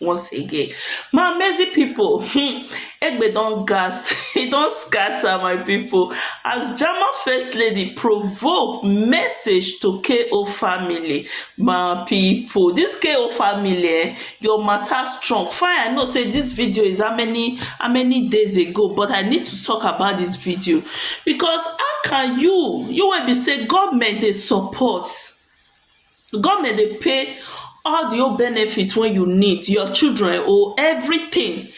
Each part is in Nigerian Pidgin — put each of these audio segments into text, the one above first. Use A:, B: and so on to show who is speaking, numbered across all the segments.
A: once again my amazing people um Egbe don gas e don scatter my people as German first lady provoke message to KO family my people this KO family um your matter strong fine I know say this video is how many how many days ago but I need to talk about this video because how can you you wey be say government dey support Government dey pay all the whole benefit wey you need, your children own, everything.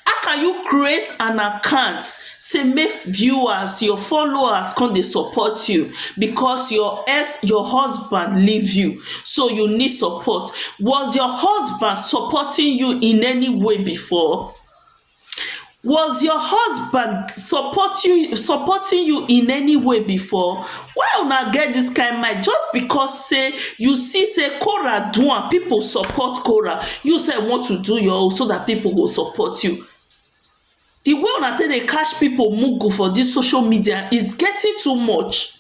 A: How can you create an account sey make viewers, your followers con dey support you because your ex, your husband leave you. So, you need support. Was your husband supporting you in any way before? Was your husband support you supporting you in any way before? Why una get dis kind mind just because sey you see sey Korah do am pipu support Korah you sef you want to do your own so dat pipu go support you. De way una take dey catch pipu mugu for dis social media is getting too much.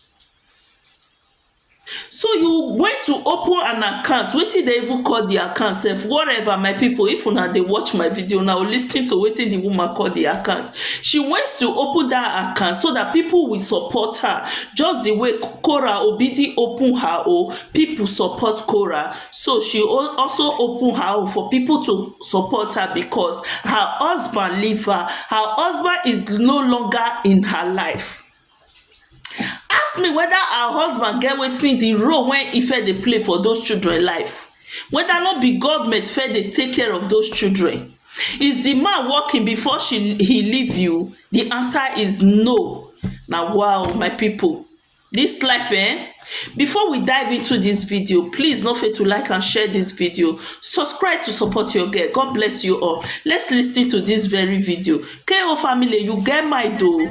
A: So you went to open an account wetin dem even call the account sef whatever my people if una dey watch my video una go lis ten to wetin the woman call the account she went to open that account so that people will support her just the way Kora Obidi open her own people support Kora so she also open her own for people to support her because her husband leave her her husband is no longer in her life Ask me weda her husband get wetin di role wey e first dey play for dose children life weda no be govment first dey take care of dose children is di man working before she he leave you di answer is no na wa o my pipu dis life eh before we dive into dis video please no fettu like and share dis video subscribe to support your girl God bless you all let's lis ten to dis very video KO family you get mind o.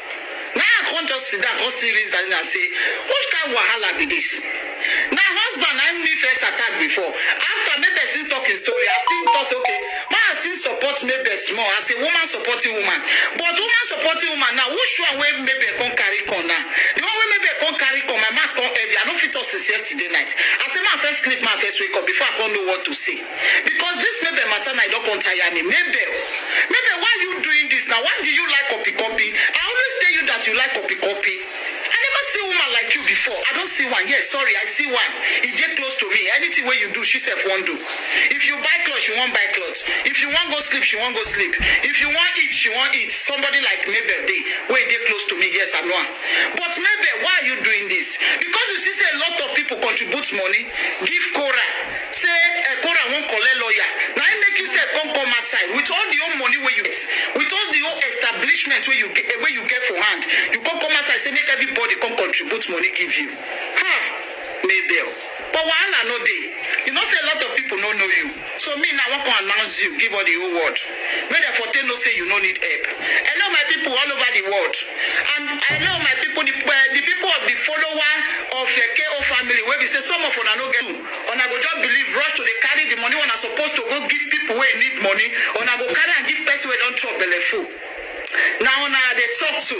B: Na I come just sit down come still reason am say which kind wahala be this? Na husband na me first attack before after make person talk him story I still talk say okay ma I still support Mabel small as a woman supporting woman but woman supporting woman now which one wey Mabel come carry come now the one wey Mabel come carry come my mouth come heavy I no fit talk since yesterday night I say ma first sleep ma first wake up before I come know what to say. because this mebe matter na e don come tire me mebe mebe why you doing this now why do you like copy copy i always tell you that you like copy copy i never see woman like you before i don see one yes sorry i see one e dey close to me anything wey you do she sef wan do if you buy cloth she wan buy cloth if you wan go sleep she wan go sleep if you wan eat she wan eat somebody like mebe dey wey dey close to me yes i know am but mebe why are you doing this because you see say a lot of people contribute money give cora Say Ephora wan collect lawyer, na im make you sef come come outside with all the whole money wey you get, with all the whole establishment wey you get wey you get for hand, you come come outside say make everybody come contribute money give you. Ha! Mabel, but wahala no dey, you know say a lot of people no know you, so me now I wan come announce you give all the whole world. Make dem for take know say you no need help. Hello my people all over the world and hello my people the, uh, the people of the follower of uh, KO family wey be say some of una no get una go just believe rush to dey carry the money una suppose to go give people wey need money una go carry am give person wey don chop belle full na una I dey talk to.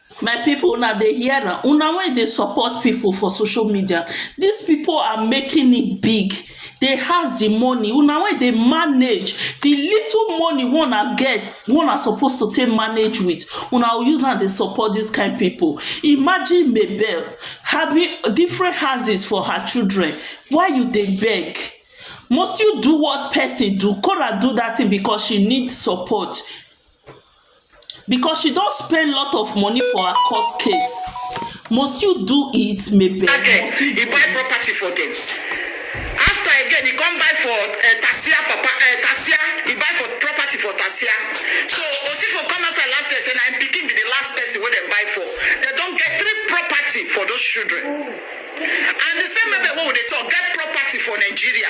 B: My pipu una
A: dey hear am, una wey dey support pipu for social media, dis pipu are making it big, dey has di money, una wey dey manage di little money wey una get, wey una suppose to take manage with, una go use am dey support dis kind pipu. Imagine Mabel having different houses for her children, why you dey beg? Must you do what person do? Korah do dat thing because she need support. Because she don spend lot of money for her court case must you do it mebere must you do it. He buy
B: property for them after again he come buy for uh, Tasia papa uh, Tasia he buy for property for Tasia so Osifo come outside last year say na him pikin be the last person wey dem buy for they don get three property for those children and the same mebere wey we dey talk get property for Nigeria.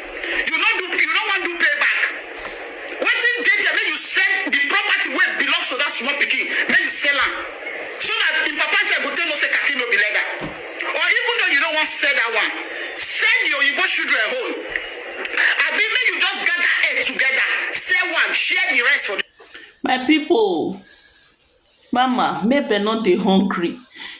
B: You no do you no wan do payback. Wetin dey there make you sell the property wey belongs to that small pikin make you sell am so that im papa sef go take know say khaki no be leather or even though you no wan sell that one sell the oyibo children own abi make you just gather head together sell one share the rest for the My people,
A: Mama make dem no dey hungry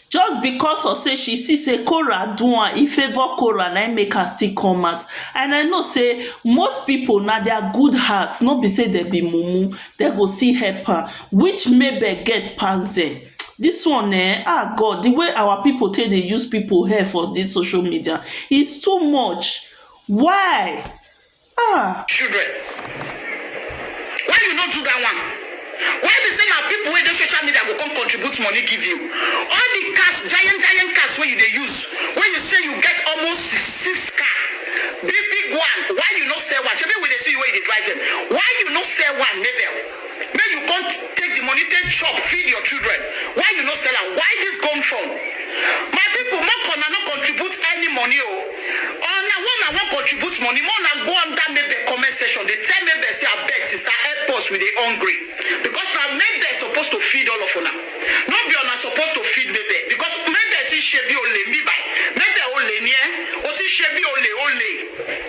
A: just because of sey she see sey Korah do am, e favour Korah na im make am still come out and I know sey most pipu na their good heart no be sey dem be mumu dem go still help am which Mabel get pass dem dis one ehn ah God de way our pipu take dey use pipu head for dis social media is too much why? Ah!
B: children why you no do that one why be say na people wey dey social media go come contribute money give you all the cars giant giant cars wey you dey use wey you say you get almost six six car big big one why you no sell one shebi we dey see you wey you dey drive them why you no sell one mabel. make you come take the money take chop feed your children why you no sell am why this come from my people make una no contribute any money o or na one na wan contribute money more na go under maybe comment section dey tell maybe say abeg sister help us we dey hungry because na maybe suppose to feed all of una no be una suppose to feed maybe because maybe ti ṣe bí olè mi by maybe olè ni ẹ o ti ṣe bí olè olè.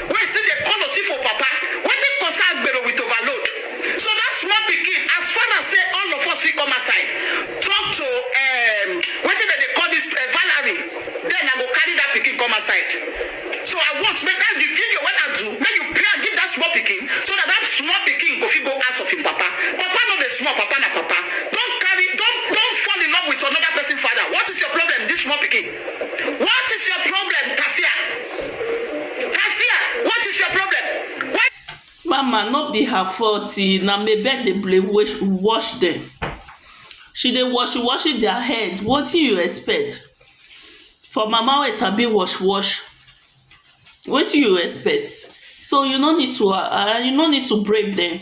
B: Wey still dey call Osifo papa, wetin concern Agbero with overload? So that small pikin, as far as say all of us fit come outside talk to um wetin dem dey call this um Valerie, then I go carry that pikin come outside. So I want make that the video wey I do, make you play am give that small pikin, so that that small pikin go fit go ask of him papa. Papa no dey small, papa na papa. Don't carry, don't don't fall in love with another person father. What is your problem, this small pikin? What is your problem, Kasia? Kasia, what is your problem? Why mama no
A: be her fault e na mebel dey play wash wash dem she dey wash wash their head wetin you expect for mama wey sabi wash wash wetin you expect so you no need to um you no need to break dem.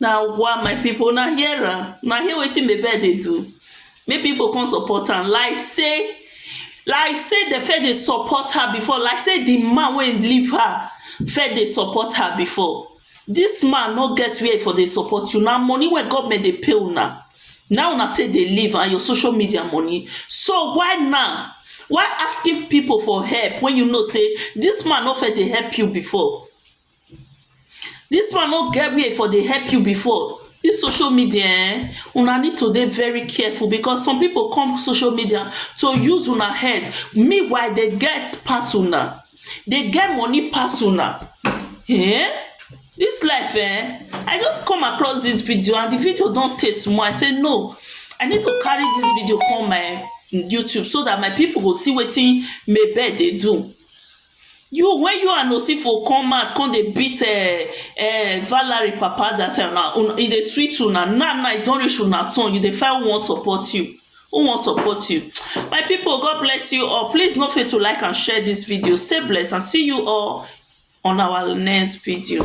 B: Na wa
A: my people una hear am, una hear wetin bebe dey do make people come support am like sey like sey dem first dey support her before like sey the man wey leave her first dey support her before this man no get where e for dey support you na money wey government dey pay una na una take dey live and your social media money so why now why asking people for help when you know sey this man no first dey help you before Dis one no get where e for dey help you before dis social media um una need to dey very careful becos some pipo come social media to use una head meanwhile dey get pass una dey get money pass una um dis life um I just come across dis video and di video don tey small I say no I need to carry dis video come my YouTube so dat my pipo go see wetin Mabel dey do. You when you and Osifo come out come dey beat uh, uh, Valerie papa that time na una e dey sweet una now now e don reach una turn you dey find who wan support you who wan support you my people God bless you all please no fail to like and share this video stay blessed and see you all on our next video.